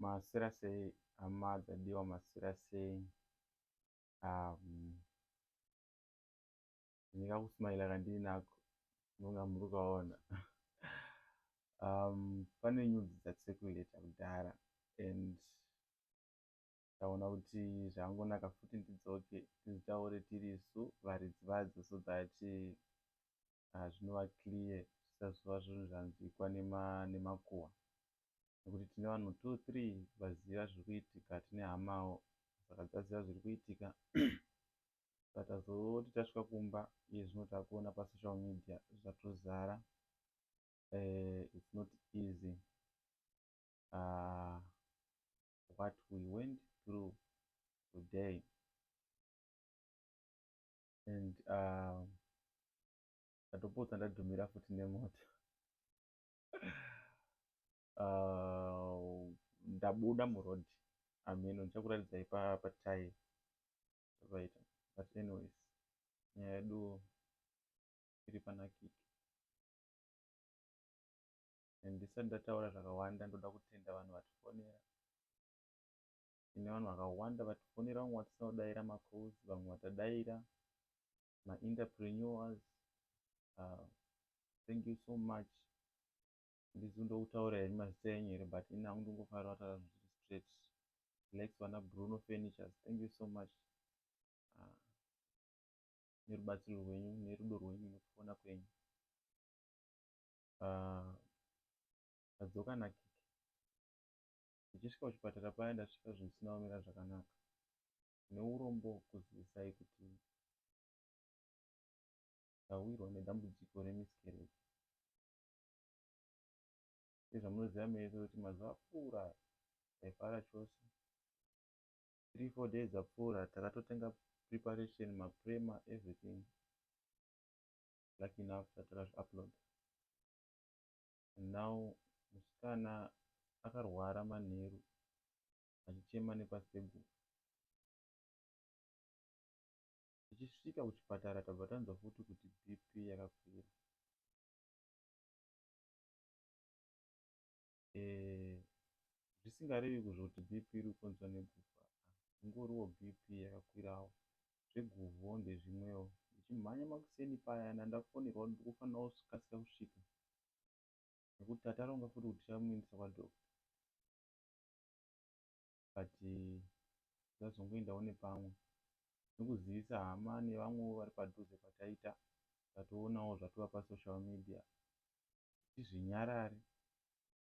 Masira sei hama dzadiwa masira sei um, ndingakusmaila kandiri nako ndonga muri kukaona um, pane nyudzi dzatisekuleta kudhara and ndaona kuti zvangonaka futi ndidzoke tizitaure tirisu varidzi vadzo so that uh, zvinova clear zvisazova zvinhu zvanzwikwa nemakuhwa nekuti tine vanhu two three vaziva zviri kuitika tine hamawo saka dzaziva zviri kuitika saka tazoti tasvika kumba iye zvino takuona pasocial media zvatozara uh, its not easy uh, what we went through today and uh, ndatopotsa ndadhumira futi nemoto uh, ndabuda muroad ameno ndichakuratidzai patai zvavaita but anyways nyaya yedu iri panakiki and ndisati ndataura zvakawanda ndoda kutenda vanhu vatifonera tine vanhu vakawanda vatifonera vamwe vatisina kudaira macalls vamwe vatadaira maenterpreneurs uh, thank you so much ndisi ndokutaura here mazita enyu here but ini hangu ndingofanira kutaura zvinhu zviri straight lex vana bruno furnitures thank you so much uh, nerubatsiro rwenyu nerudo rwenyu nekufona kwenyu ah, ndadzoka nakiki ndichisvika kuchipatara paya ndasvika zvinhu zvisina kumira zvakanaka neurombo kuzivisai kuti ndawirwa nedambudziko remiscarriage sezvamunoziva mese kuti mazuva apfuura taifara chose three four days apfuura takatotenga preparation maprema everything lucky enough takazvi upload and now musikana akarwara manheru achichema nepasekuru tichisvika kuchipatara tabva tanzwa futi kuti bp yakakwira eh, zvisingarevi kuzvoti bp iri kukonzwa negufa ingoriwo bp yakakwirawo zveguvo ndezvimwewo ndichimhanya makuseni payana ndafonerwa kuti ndikufanira kukasira kusvika nekuti tataronga futi kuti tichamuindisa kwadoctor but ndazongoendawo nepamwe nekuzivisa hama nevamwewo vari padhuze pataita tatoonawo zvatova pasocial media kuti zvinyarare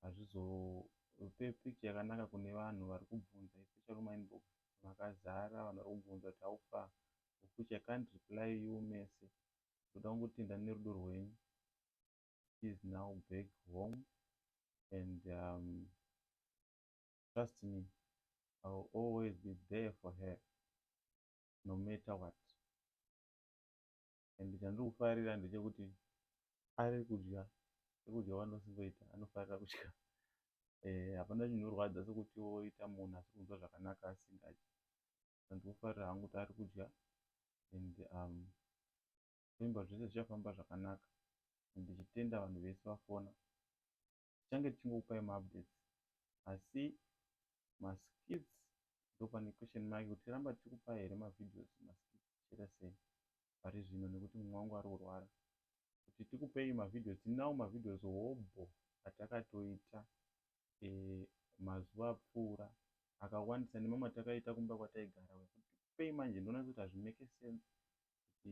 hazvizope picture yakanaka kune vanhu vari kubvunza especially mumainbox makazara vanhu vari kubvunza kuti how far of which i can't reply you mese ndoda kungotenda nerudo rwenyu she is now back home and um, trust me I will always be there for her no matter what and chandiri kufarira ndechekuti ari kudya sekudya kwandinosingoita anofarira kudya eh, hapana e, chinorwadza sekuti woita munhu asi kunzwa zvakanaka asingadyi andiri kufarira hangu kuti ari kudya and um, zvimba zvese zvichafamba zvakanaka and ndichitenda vanhu vese vafona tichange tichingokupai maupdates asi maskits ndopane question mark kuti tiramba tichikupai here mavideos maskits tichiita sei pari zvino nekuti mumwe wangu ari kurwara kuti tikupei mavideos tinawo mavideos hobho atakatoita e, mazuva apfuura akawandisa nemamwe atakaita kumba kwataigara wekuti tikupei manje ndonatsuti hazvimeke sense kuti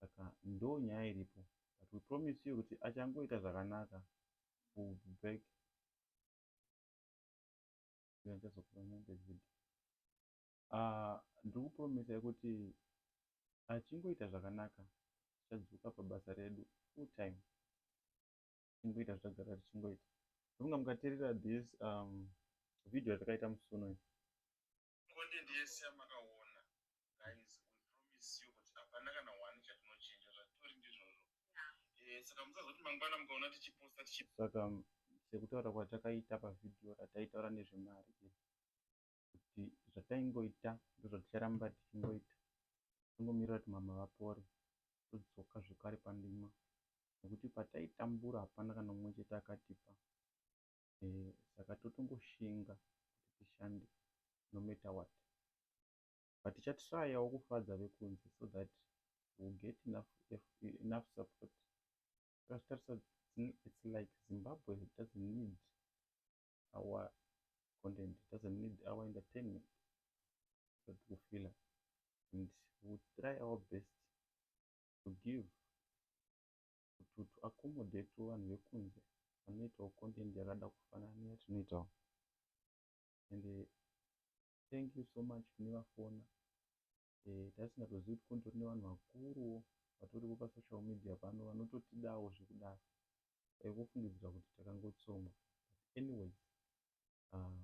saka ndo nyaya iripo but we promise you kuti achangoita zvakanaka will be back ah, ndiri kupromisa yekuti achingoita zvakanaka tichadzoka pabasa redu full time tichingoita zvatagara tichingoita ndofunga mukaterera this um, video yatakaita musuno content yese yamakaona guys we promise you kuti hapana kana one chatinochinja zvatori ndizvozvo eh, saka musazoti mangwana mukaona tichiposta tichi saka sekutaura kwatakaita pavhidhiyo rataitaura nezvemari iri kuti zvataingoita ndozvaticharamba tichingoita tingomirira kuti mama vapore todzoka zvekare pandima nekuti pataitambura hapana kana mumwe chete akatipa eeh saka totongoshinga kuti tishande no matter what but ticha tryawo kufadza vekunze so that we will get enough enough support tazvitarisa it's like Zimbabwe doesn't need our content doesn't need our entertainment but we feel it and we will try our best to give kuti to accommodate vanhu vekunze vanoitawo content yakada kufanana neyatinoitawo and eh, thank you so much kune vafona eh, tasingatozivi kuti kune torine vanhu vakuruwo vatoripo pasocial media pano vanototidawo zvekudaro vaikufungidzira kuti takangotsongwa but anyways uh,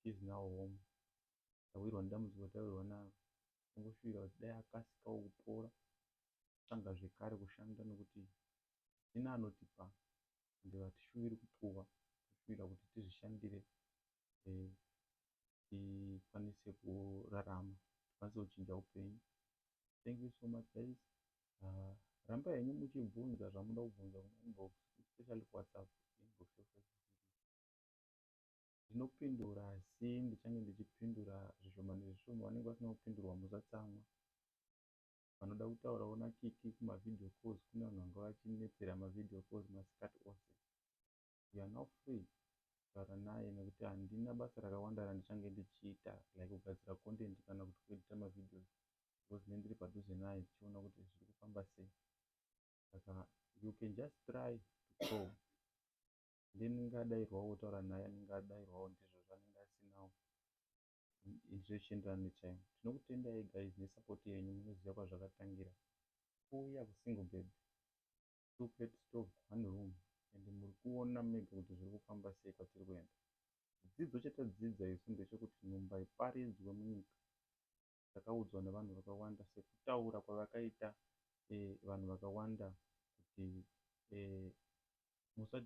is now home tawirwa nedambudziko tawirwa naro tingoshuvira kuti dai akasikawo kupora tanga zvekare kushanda nokuti hatina anotipa ende hatishuviri kupuwa toshuvira kuti tizvishandire eh, tikwanise kurarama tikwanise kuchinja upenyu thank you so much guys uh, ramba henyu muchibvunza zvamuda kubvunza kumainbox especially kuwhatsapp inbox ndinopindura asi ndichange ndichipindura zvishoma nezvishoma vanenge vasina kupindurwa musatsamwa vanoda kutaurawo na Kiki kuma video calls kune vanhu vanga vachinetsera ma video calls masikati ose you are now free kutaura naye nekuti handina basa rakawanda randichange ndichiita like kugadzira content kana kuti ku editor ma videos because ndinenge ndiri padhuze naye tichiona kuti zviri kufamba sei saka you can just try to call then unenge adairwawo wotaura naye anenge adairwawo ndizvozvo anenge asinawo izvo zvichienderana netime. Tinokutendai guys nesupport yenyu munoziva kwazvakatangira kuuya kusingle bed, two plate stove, one room and murikuona mega kuti zvirikufamba sei kwatiri kuenda. Chidzidzo chatadzidza isu ndechekuti nhumba iparidzwe munyika. Takaudzwa nevanhu vakawanda sekutaura kwavakaita vanhu vakawanda kuti musa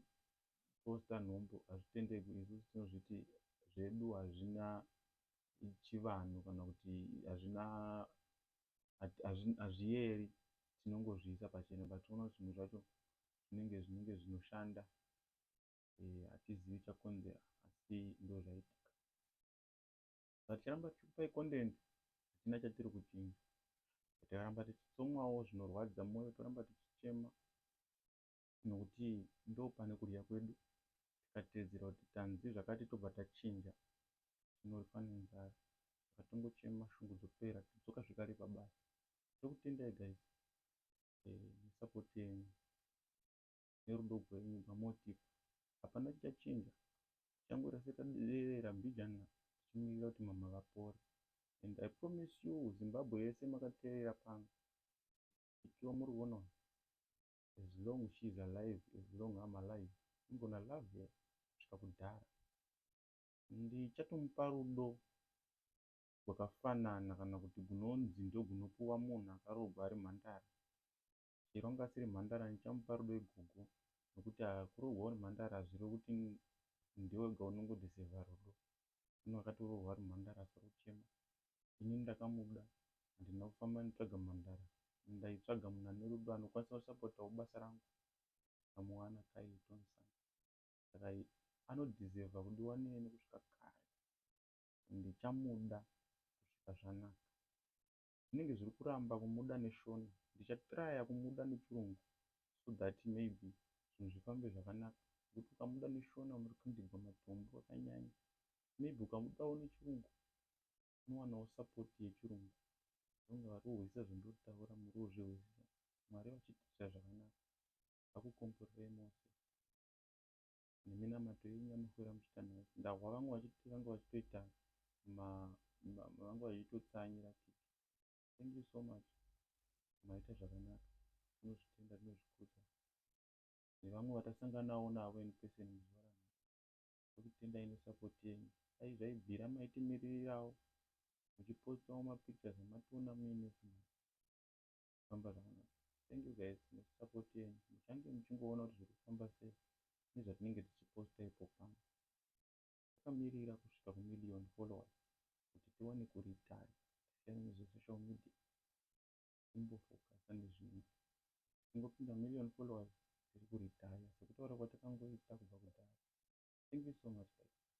poster nhumbu hazvitendegwi isu tinozviti zvedu hazvina chivanhu kana kuti hazvina hazviyeri tinongozviisa pachena but unoona kuti zvinhu zvacho zvinenge zvinenge zvinoshanda eh, hatizivi e, chakonzera asi ndo zvaitika but charamba tichikupai content hatina chatiri kuchinja takaramba tichitsomwawo zvinorwadza moyo toramba tichichema nokuti ndopane kudya kwedu tikateedzera kuti tanzi zvakati tobva tachinja tinofa nenzara saka tongochema shungu dzopera todzoka zvekare pabasa ndokutendai guys nesupport yenyu nerudo rwenyu rwamotipa hapana chichachinja tichangorira setaderera mbijana tichimirira kuti mama vapore and i promise you zimbabwe yese makateerera pano ikiwa muri kuona as long she's alive as long I'm alive I'm gonna love her kusvika kudhara. Ndichatomupa rudo rwakafanana kana kuti gunonzi ndogunopuwa munhu akaroogwa ari mhandara. Chero anga asiri mhandara ndichamupa rudo igogo nokuti haa kuroogwa uri mhandara hazvirevi kuti ndiwe wega unongodesevha rudo. Munhu akatoroorwa ari mhandara asarochema ini ndakamuda handina kufamba nditsvaga mhandara and ndaitsvaga munhu ane rudo anokwanisa kusapotawo basa rangu ndikamuwana Kaye Tonson saka anodeserva kudiwa neni kusvika kare and ndichamuda kusvika zvanaka zvinenge zviri kuramba kumuda neshona ndichatraya kumuda nechirungu so that maybe zvinhu zvifambe zvakanaka nekuti ukamuda neshona unoti kundigwa matombo akanyanya maybe ukamudawo nechirungu unowanawo support yechirungu vange varikuhwisisa zvandinotaura muri kuzvihwisisa mwari vachitiitira zvakanaka vakukomborerei mose neminamato yenyu yamafura muchiita nayo ndahwa vangu vachiti vange vachitoita vange vachitotsanyira kiki thank you so much maita zvakanaka tinozvitenda tinozvikudza nevamwe vatasanganawo navo in person muzuva tokutendai ne support yenyu dai zvaibvira maitimiririrawo muchipostawo ma pictures amationa muine zvinhu zvirikufamba zvakanaka thank you guys ne support yenyu muchange muchingoona kuti zvirikufamba sei nezvatinenge tichiposta ipo pano takamirira kusvika ku million followers kuti tiwane ku retire tisiyane nezve social media kumbofokasa nezvimwe tingopinda million followers tiri kuretire sekutaura kwatakangoita kubva kudhara thank you so much guys.